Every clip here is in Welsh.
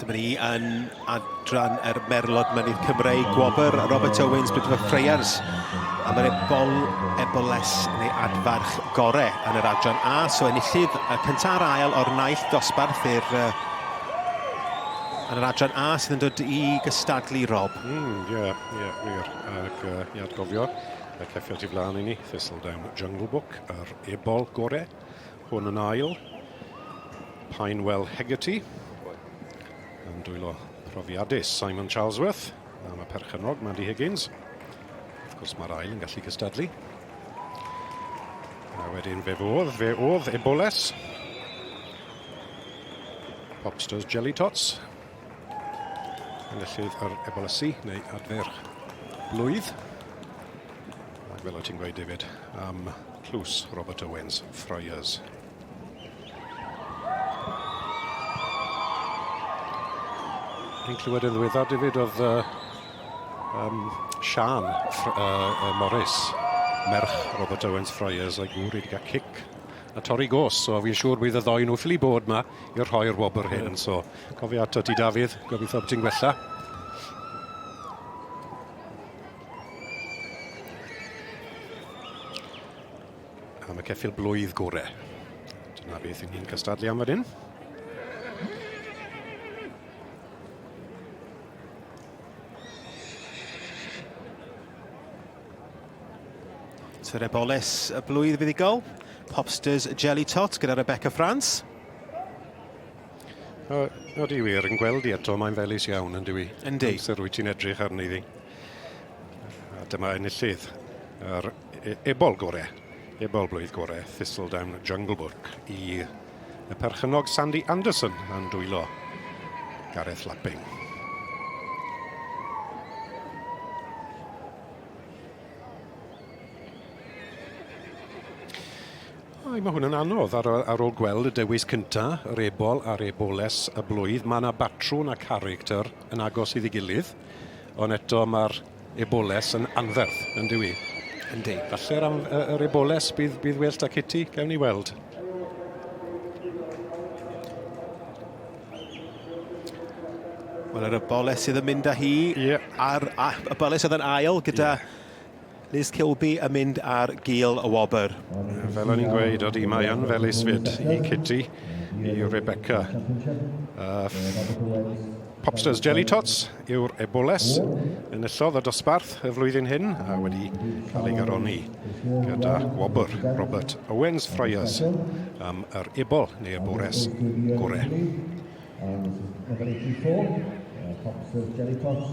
Dyma ni yn adran yr er merlod mynydd Cymreig, gwobr Robert Owens, Brydfa Freyers. A mae'r ebol, eboles neu adfarch gore yn yr adran A. So enillydd y cyntaf a'r ail o'r naill dosbarth i'r uh, yn yr adran A sydd yn dod i gystadlu, Rob. Ie, mm, ie, yeah, yeah, wir. Ac uh, i adgofio, y ceffio ti flaen i ni, Thistledown Jungle Book, yr ebol gore. Hwn yn ail. Pinewell Hegarty yn dwylo profiadus Simon Charlesworth am y perchennog Mandy Higgins. Wrth gwrs mae'r ail yn gallu cystadlu. A wedyn fe fodd, fe oedd Eboles. Popsters Jelly Tots. Enillydd yr Ebolasu neu adfer blwydd. Ac fel o ti'n gweud David, am tlws Robert Owens, Friars. Ni'n clywed yn ddiweddar, David, oedd uh, um, Sian uh, Morris, merch Robert Owens Friars, a'i gŵr wedi cael cic a torri gos. So fi'n siŵr bydd y ddoi nhw ffili bod yma i'r rhoi'r wobr hyn. So Cofio ato ti Dafydd, gobeithio bod ti'n gwella. Am y ceffil blwydd gore. Dyna beth i ni'n cystadlu am fan hyn. Tereboles y blwydd fuddugol. Popsters Jelly Tot gyda Rebecca France. O, odi wir, yn gweld i eto, mae'n felus iawn, yn dywi. Yndi. Amser wyt ti'n edrych arni ddi. A dyma enillydd yr e- ebol gore, ebol blwydd gore, Thistledown Junglebook i y perchynog Sandy Anderson yn dwylo Gareth Lapping. Mae hwn yn anodd ar, ar ôl gweld y dewis cynta, yr ebol a'r eboles y blwydd. Mae yna batrwn a character yn agos iddi gilydd, ond eto mae'r eboles yn anferth, yn dywi? Yndi. Falle'r am, yr eboles bydd, bydd well da Kitty, gawn ni weld. Wel, yr eboles sydd yn mynd â hi yeah. ar, a, eboles oedd yn ail gyda yeah Liz Kilby yn mynd ar gil y wobr. Fel o'n i'n gweud, oeddi mae yn fel isfyd i Kitty, i Rebecca. Uh, Popsters Jelly Tots yw'r eboles yn illodd y dosbarth y flwyddyn hyn a wedi cael ei garoni gyda gwobr Robert Owens Friars am yr ebol neu y bwres gore. Popsters Jelly Tots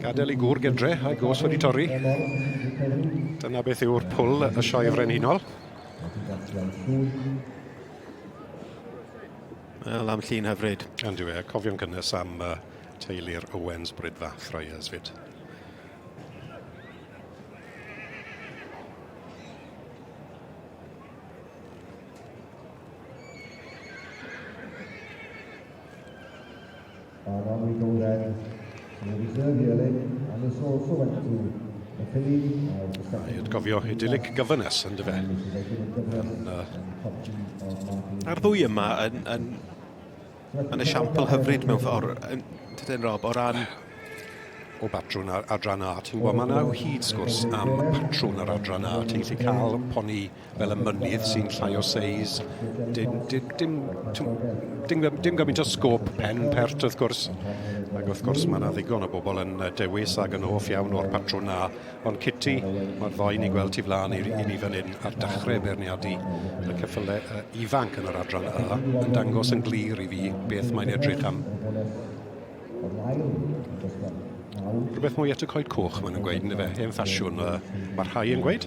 Gadael i gŵr gytre a'i gos wedi torri. Dyna beth yw'r pwl y sioe frenhinol. Wel, am llun hyfryd. Ond yw e, cofio'n cynnes am uh, teulu'r Owens Brydfa Friars fyd. Mae Ronnie Goldhead, sydd yn reserve i Elin, and has also went to the Philly as the second... Mae atgofio idyllic gyfynes yn dyfe. Yn, uh... Mae'r ddwy yma yn, yn, yn esiampl hyfryd mewn ffordd, yn, tydyn Rob, o ran o batrwn ar adran A. Ti'n gwybod, mae yna hyd sgwrs am patrwn ar adran A. Ti'n gallu cael poni fel y mynydd sy'n llai o seis, dim, dim, dim, dim, dim, dim gymaint o sgôp pen pert wrth gwrs. Ac wrth gwrs mae yna ddigon o bobl yn dewis ac yn hoff iawn o'r patrwn na. Ond Kitty, mae'r ddoi ni'n gweld ti flaen i, i ni fan hyn ar dechrau beirniadu y cyffyle uh, ifanc yn yr adran A yn dangos yn glir i fi beth mae'n edrych am. Rhywbeth mwy at y coed coch, maen nhw'n gweud, yn efe, hen ffasiwn, uh, mae rhai yn gweud.